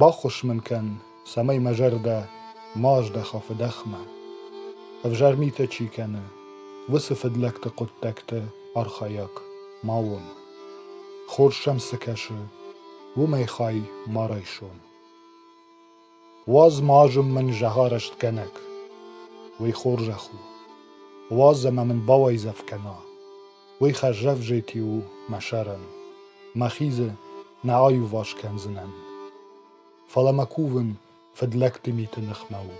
Баххуыс мын кӕн, цӕмӕй мӕ зӕрдӕ ма аздӕха фыдӕхмӕ. Ӕвзӕр митӕ чи кӕны, уыцы фыдлӕгты хъуыддӕгты архайӕг ма уон. Хорз сӕм цы кӕсы, уымӕй хай ма райсон. Уадз ма азым мын зӕгъарӕстгӕнӕг, уый хорзӕх у. Уадз ӕмӕ мын бауайдзӕф кӕна, Уый хӕрзӕвзити у мӕ сӕрӕн, мӕхи дзы нӕ аиуварс кӕндзынӕн. Фӕлӕ мӕ кувын фыдлӕгты миты ныхмӕ у.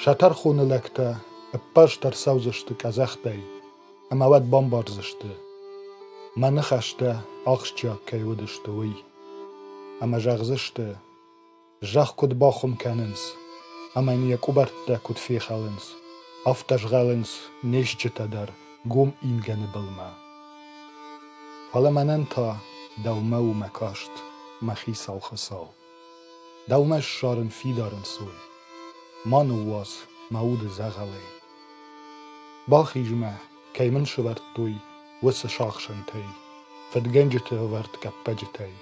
Сӕ тӕрхоны лӕгтӕ ӕппӕрст ӕрцӕудзысты къӕдзӕхтӕй ӕмӕ уӕд бамбардзысты, мӕ ныхӕстӕ ахсджиаг кӕй уыдысты, уый. Ӕмӕ зӕгъдзысты, Зӕхх куыд бахуым кӕнынц ӕмӕ йын йӕ къуыбӕрттӕ куыд фехалынц, афтӕ згъӕлынц не стджытӕ дӕр гом ингӕны былмӕ. Фӕлӕ мӕнӕн та дӕумӕ у мӕ каст, мӕ хицау Хуыцау. Дӕумӕ ссарын фидар ӕнцой. Ма ныууадз мӕ уды дзӕгъӕлӕй. Бахиз-ма, кӕй мын сывӕрдтой уыцы сахсӕнтӕй, фыдгӕнджыты ӕвӕрд къӕппӕджытӕй.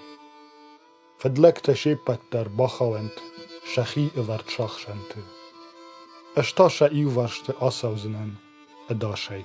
Фыдлӕгтӕ се ппӕт дӕр бахауӕнт сӕхи ӕвӕрд сахсӕнты. Ӕз та сӕ иуварсты ацӕудзынӕн ӕдасӕй.